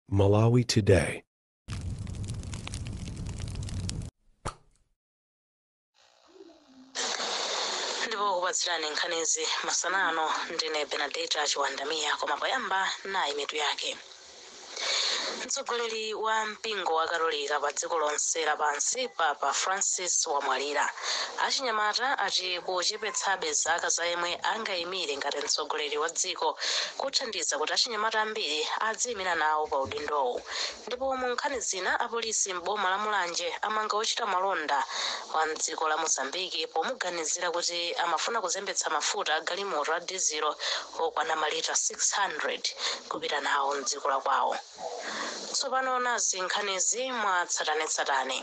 Malawi Today. ndipo okupatsirani nkhanizi masana ano ndine Benadeta Chiwanda Mia koma poyamba nayi mitu yake mtsogoleri wa mpingo wa katolika pa dziko lonse lapansi papa francis wamwalira achinyamata ati kuchepetsabe zaka za yemwe angaime ire ngati mtsogoleri wa dziko kuthandiza kuti achinyamata ambiri adziimira nawo pa udindowu ndipo mu nkhani zina apolisi m'boma la mulanje amanga wochita malonda wa mdziko la mozambiki pomuganizira kuti amafuna kuzembetsa mafuta a galimoto a dizilo okwana malita 600 kupita nawo mdziko la kwawo tsopano nazi nkhanizi mwatsatanetsatane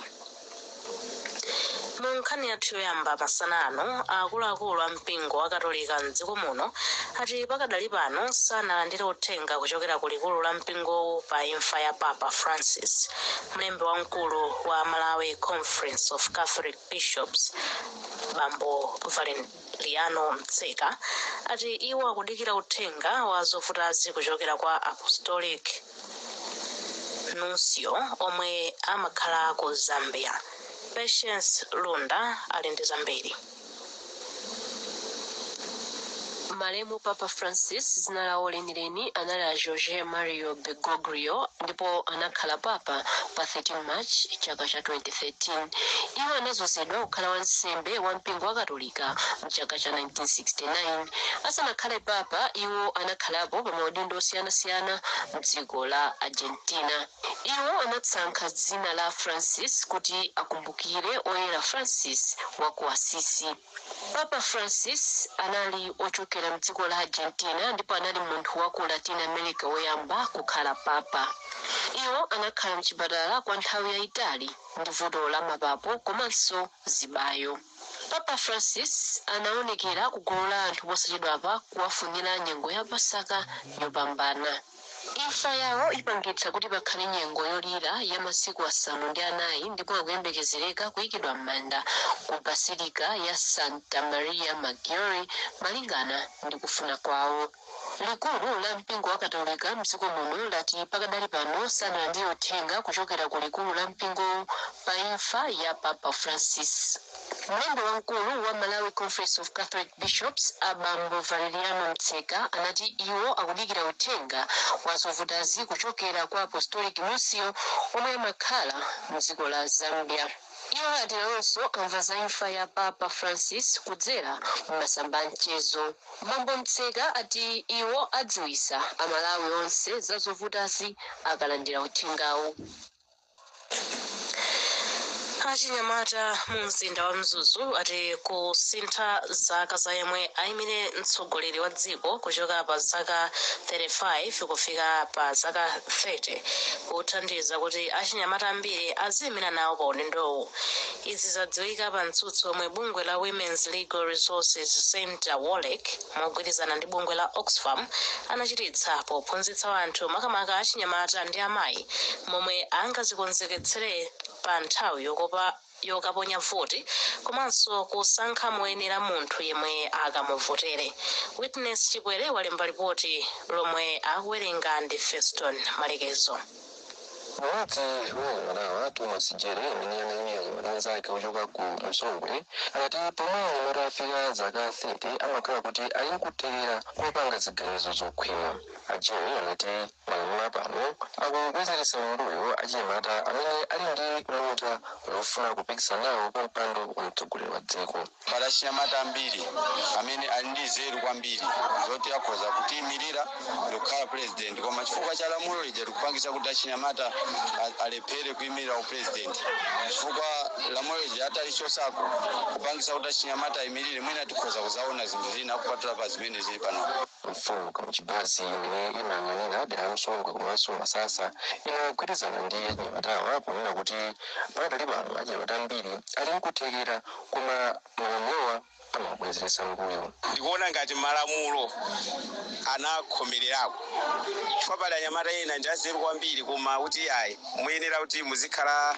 Mu nkhani yathu yoyamba masana ano, akuluakulu a mpingo wakatolika m'dziko muno ati pakadali pano sanalandire uthenga kuchokera ku likulu la mpingowu pa imfa ya Papa Francis. Mlembi wamkulu wa Malawi Conference of Catholic Bishops Bambo Valer Liano Mtseka ati iwo akudikira uthenga wa zovutazi kuchokera kwa Apostolic Nuncio omwe amakhala ku Zambia. Patience Lunda ali ndi zambiri. Malemu Papa Francis, dzina lawo leni. leni anali a Jorge Mario Bergoglio ndipo anakhala papa pa 13 March chaka cha 2013. Iwo anazozedwa kukhala wansembe wa mpingo wa Katolika mchaka cha 1969. Asanakhale papa, iwo anakhalapo pa maudindo osiyanasiyana mdziko la Argentina. Iwo anasankha dzina la Francis kuti akumbukire oyera Francis wa ku Assisi. Papa Francis anali ochokera m'dziko la Argentina ndipo anali munthu wa ku Latin America woyamba kukhala Papa. Iwo anakhala m'chipatala kwa nthawi yayitali ndi vuto la mapapo komanso zibayo. Papa Francis anawonekera ku gulu la anthu posachedwapa kuwafunira nyengo ya Pasaka yopambana. Imfa yawo ipangitsa kuti pakhale nyengo yolira ya masiku asanu ndi anayi ndipo akuyembekezereka kuikidwa m'manda ku Basilica ya Santa Maria Maggiore malingana ndi kufuna kwawo. Likulu la mpingo wa katolika mdziko muno lati pakadali pano sanalandire uthenga kuchokera ku likulu la mpingo pa imfa ya Papa Francis. Mlembi wamkulu wa Malawi Conference of Catholic Bishops a Bambo Valeriano Mtseka anati iwo akudikira uthenga wa zovutazi kuchokera kwa Apostolic Nuncio omwe amakhala mdziko la Zambia. Iwo ati nawonso amva za imfa ya Papa Francis kudzera mu masamba a mchezo. Bambo Mtseka ati iwo adziwitsa a Malawi onse za zovutazi akalandira uthengawu. Achinyamata mu mzinda wa Mzuzu ati kusintha zaka za yemwe ayimire mtsogoleri wa dziko kuchoka pa zaka 35 kufika pa zaka 30 kuthandiza kuti achinyamata ambiri aziyimira nawo pa udindowu. Izi zadziwika pa mtsutso omwe bungwe la Women's Legal Resources Centre, Wolec, mogwirizana ndi bungwe la Oxfam, anachititsa pophunzitsa anthu, makamaka achinyamata ndi amayi, momwe angazikonzeketsere pa nthawi yokaponya voti komanso kusankha moyenera munthu yemwe akamuvotere. Witness Chikwere walemba lipoti lomwe akuwerenga ndi Feston Malekezo. M'modzi mwa anyamatawa, Thomas Jere amene anaimira achinyamata anzake ochoka ku Msongwe anati pomwe munthu afika zaka 30 amakhala kuti ali nkuthekera kopanga ziganizo zokhwima. A Jere anati malamulo a pano akubwezeretsa m'mbuyo achinyamata amene ali ndi luntha lofuna kupikisana nawo pa mpando wa mtsogoleri wa dziko. Pali achinyamata ambiri amene ali ndi nzeru kwambiri zoti akhoza kutiimirira ndikukhala pulezidenti, koma chifukwa cha lamulo lija likupangitsa kuti achinyamata a- alephere kuimirira upulezidenti, chifukwa lamulo lija atalichosako kupangitsa kuti achinyamata aimirire, mwina tikhoza kuzaona zinthu zina kupatula pa zimene zili panopa. Mfumu Kamchibazi yomwe imayang'anira dera la Msongwe komanso Masasa inagwirizana ndi achinyamatawa ponena kuti pakadali pano achinyamata ambiri ali nkuthekera Koma malamulowa amabwezeretsa mbuyo. Ndikuona ngati malamulo anakhomelerako chifukwa pali anyamata ena ndi anzeru kwambiri koma kuti ayi muyenera kuti muzikhala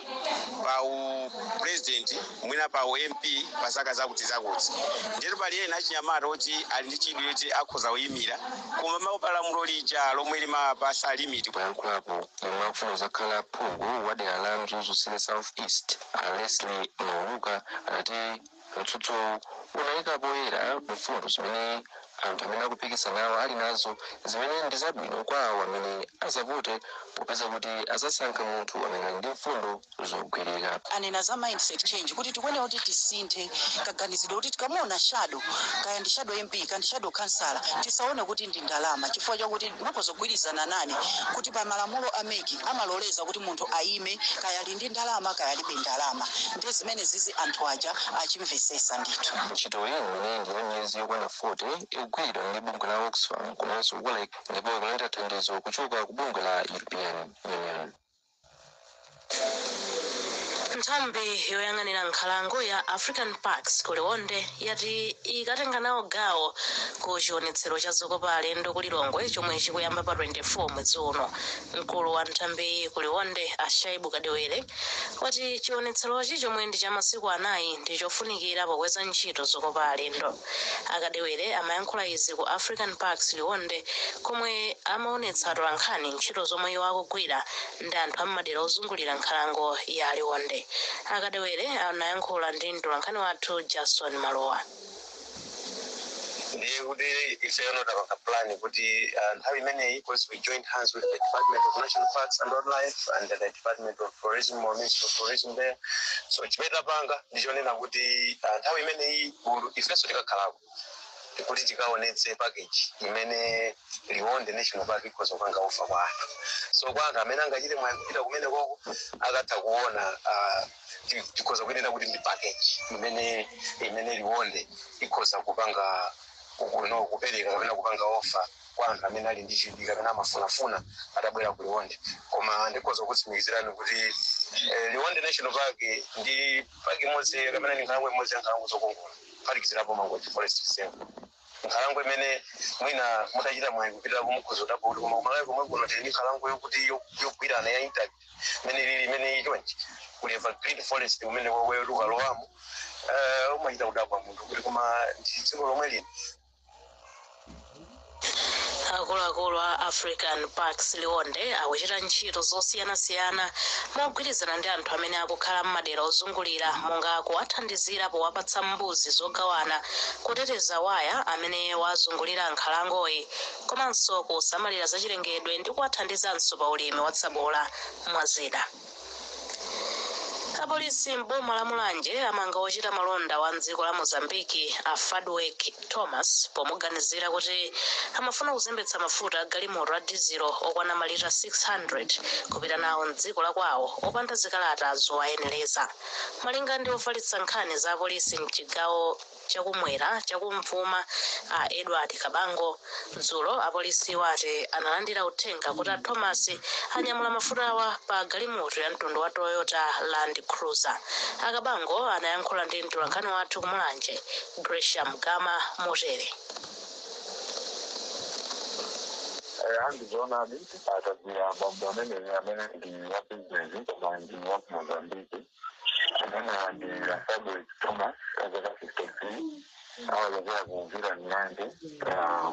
pa u president mwina pa u MP pa zaka zakuti zakuti ndiyeno pali ena achinyamata oti ali ndi chidwi choti akhoza kuimira koma amaopa lamulo lija lomwe limapasa limit Poyankhulapo yemwe akufuna kuzakhala phungu wa dera la Mzuzu City South East, A Leslie Mauluka anati mtsutsowu unayika poyera mfundo zimene anthu amene akupikisana nawo ali nazo zimene ndi zabwino kwa awo amene azavote popeza kuti azasankha munthu amene ali ndi mfundo zogwirika. Anena za mindset change kuti tikuyenera kuti tisinthe kaganizidwe kuti tikamuona shadow kaya ndi shadow MP ka ndi shadow khansala tisaone kuti ndi ndalama chifukwa chakuti mukhoza kugwirizana nane kuti pa malamulo a mec amaloleza kuti munthu ayime kaya ali ndi ndalama kaya alibe ndalama nde zimenezi anthu aja achimvesesa ndithu. Ntchitoyi imene ndi ya miyezi yokwana 40 ikugwiridwa ndi bungwe la Oxfam komanso Wolrec ndipo ikulandira thandizo kuchoka ku bungwe la European Union. Nthambi yoyang'anira nkhalango ya African Parks ku Liwonde yati ikatenga nawo gawo ku chionetsero cha zokopa alendo ku Lilongwe chomwe chikuyamba pa 24 mwezi uno. Mkulu wa nthambiyi ku Liwonde, a Shaibu Kadewere, wati chionetserochi chomwe ndi cha masiku anayi ndi chofunikira pokweza ntchito zokopa alendo. A Kadewere amayankhula izi ku African Parks Liwonde komwe amaonetsa atolankhani ntchito zomwe iwo akugwira ndi anthu a m'madera ozungulira nkhalango ya Liwonde. A Kadewere anayankhula ndi mtolankhani wathu Jason Malowa. ndiye kuti ifeyo tapanga plan kuti uh, nthawi imeneyi because we joined hands with the department of national parks and wildlife and the department of tourism or ministry of tourism there so chimene tapanga ndichonena kuti uh, nthawi imeneyi gulu ifenso tikakhalako kuti tikaonetse package imene liwonde national park ikhoza kupanga offer kwa anthu so kwa anthu amene angachite mwayi kupita kumene koko akatha kuona uh, ti- tikhoza kunena kuti ndi package imene imene liwonde ikhoza kupanga kuno kupereka kapena kupanga offer kwa anthu amene ali ndi chidwi kapena amafunafuna atabwera ku liwonde koma ndikhoza kutsimikizirani kuti eh, liwonde national park ndi park imodzi kapena ndi nkhalango imodzi ya nkhalango zokongola kuphatikizirapo mangochi forest reserve nkhalango imene mwina mutachita mwayi kupita mukhoza tapoti koma kumalawi komwe kuno tili ndi nkhalango yokuti yo- yogwirana ya intact imene ilili imene iyi chonchi kuli evergreen forest imene iwe ukalowamo eh, umachita kudabwa munthu kuti koma ndi dziko lomwe lino akuluakulu a african parks liwonde akuchita ntchito zosiyanasiyana mogwirizana ndi anthu amene akukhala m'madera ozungulira monga kuwathandizira powapatsa mbuzi zogawana kuteteza waya amene wazungulira nkhalangoyi komanso kusamalira zachilengedwe ndi kuwathandizanso pa ulimi wa tsabola, mwa zina. Apolisi m'boma la Mulanje amanga wochita malonda wa m'dziko la Mozambique a Fadweck Thomas pomuganizira kuti amafuna kuzembetsa mafuta a galimoto a dizilo okwana malita 600 kupita nawo m'dziko la kwawo opanda zikalata zowayenereza. Malinga ndi ofalitsa nkhani za apolisi m'chigawo chakumwera chakumvuma a Edward Kabango dzulo apolisiwa ati analandira uthenga kuti a Thomas anyamula mafutawa pa galimoto ya mtundu wa Toyota Land Cruiser. A Kabango anayankhula ndi mtolankhani wathu ku Mulanje Gresham Gama motere. eya ndizoonadi tagwira bambo amene amene ndi wa bizinesi koma ndi wa ku mozambiki Amenewa ndi Asabwezi Thomas a zaka 53 ochokera ku Vila Milanje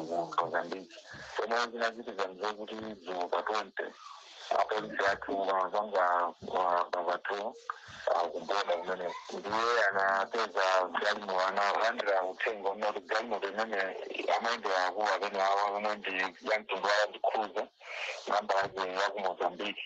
ku mozambiki pomwe zinachitika nzakuti dzulo pa 20 apolisi athu amapanga patrol kuboda kumene ndiye anapeza galimo analandira uthenga woti galimoto imene amayendera akulu amene awa omwe ndi yamtundu wa land cruiser nambala yake ya ku mozambiki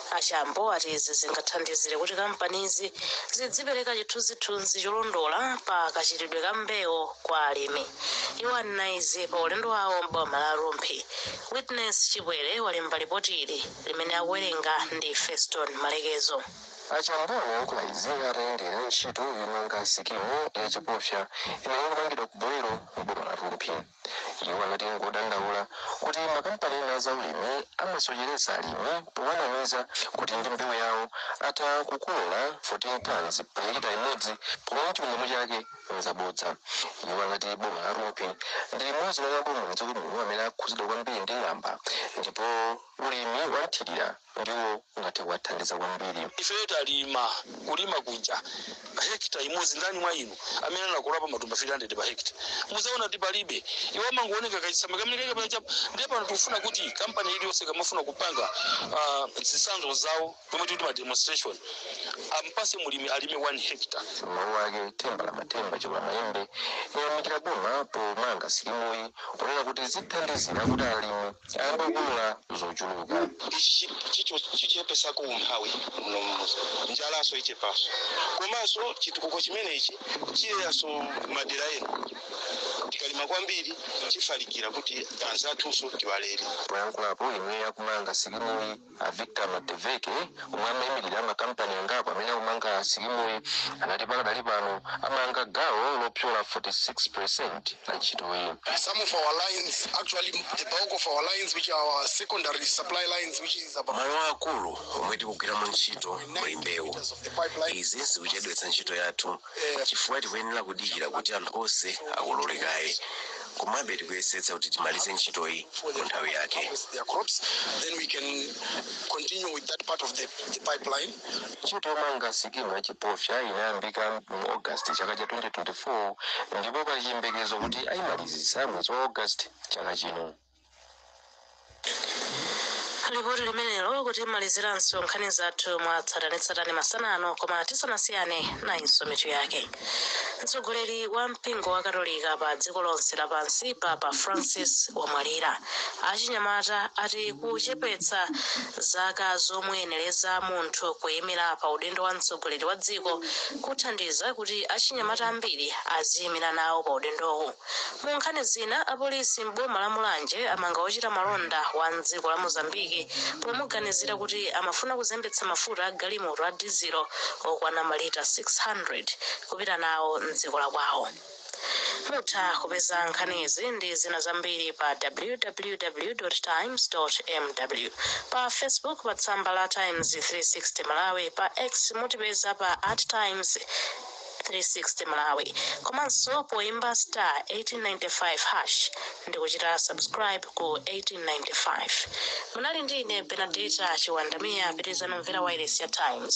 A Chambo ati izi zingathandizire kuti kampanizi zidzipereka chithunzithunzi cholondola pa kachitidwe ka mbewu kwa alimi. Iwo anena izi pa ulendo wawo m'boma la Rumphi. Witness Chipwere walemba lipoti ili limene akuwerenga ndi Feston Malekezo. A Chambo anayankhula izi atayendera ntchito yomanga sikimu ya Chipofya imene ikumangidwa ku Bolero m'boma la Rumphi. Iwo anati ngodandaula kuti makampani ena a zaulimi amasocheretsa alimi powanamiza kuti ndi mbewu yawo atha kukolola 14 tons pa hekita imodzi pomwe chilungamo chake nzabodza. Iwo anati boma la Rumphi ndi limodzi mwa maboma mdziko muno amene akhudzidwa kwambiri ndi ng'amba ndipo ulimi wa nthirira ndiwo ungathe kuwathandiza kwambiri. Ifeyo talima, kulima kunja, hectare imodzi. Ndani mwa inu amene anakololapo matumba 300 pa hectare? Mudzaona kuti palibe. Iwo amangowoneka kachitsamba kamene kali kapena chapo. Ndiye pano tikufuna kuti kampani iliyonse ikamafuna kupanga ah, zitsanzo zawo zomwe tikuti ma demonstration ampase mlimi alime 1 hectare. M'mawu ake, Themba la Mathemba Chikulamayembe anayamikira boma pomanga sikimuyi ponena kuti zithandizira kuti alimi akolole zochuluka. chichepesako umphawi muno mmuzi njalaso ichepaso komanso chitukuko chimenechi chipitaso madera ena tikalima kwambiri chifalikira kuti anzathunso tiwalere. Poyankhulapo yemwe akumanga sikimuyi A Victor Madeveke, omwe amaimilira makampani angapo amene akumanga sikimuyi, anati pakadali pano amanga gawo lopyola 46 peresenti la ntchitoyi. Some of our lines, actually the bulk of our lines which are our secondary supply lines which is about Malo aakulu omwe tikugwiramo ntchito muli mbewu. Izi zikuchedwetsa ntchito yathu N'chifukwa tikuyenera kudikira kuti anthu onse akolole kaye. Komabe tikuyesetsa kuti timalize ntchitoyi mu nthawi yake. Ntchito yomanga sikimu ya Chipofya inayambika mu August chaka cha 2024 ndipo pali chiyembekezo kuti ayimalizitsa mwezi wa August chaka chino. Lipoti limenelo kutimaliziranso nkhani zathu mwa tsatanetsatane masana ano koma tisanasiyane nayinso mitu yake mtsogoleri wa mpingo wa katolika pa dziko lonse lapansi papa francis wamwalira achinyamata ati kuchepetsa zaka zomuyenereza munthu kuyimira pa udindo wa mtsogoleri wa dziko kuthandiza kuti achinyamata ambiri aziyimira nawo pa udindowu Mu nkhani zina, apolisi m'boma la Mulanje amanga wochita malonda wa m'dziko la Mozambique pomuganizira kuti amafuna kuzembetsa mafuta a galimoto a dizilo okwana malita 600 kupita nawo m'dziko la kwawo. Mutha kupeza nkhanizi ndi zina zambiri pa www. Times. mw, pa Facebook pa tsamba la Times 360 Malawi, pa X mutipeza pa at times. 360 malawi komanso poimba star 1895 hash ndikuchita subscribe ku 1895 munali ndi ine benadeta chiwandamiya pitirizani kumvera wailesi ya times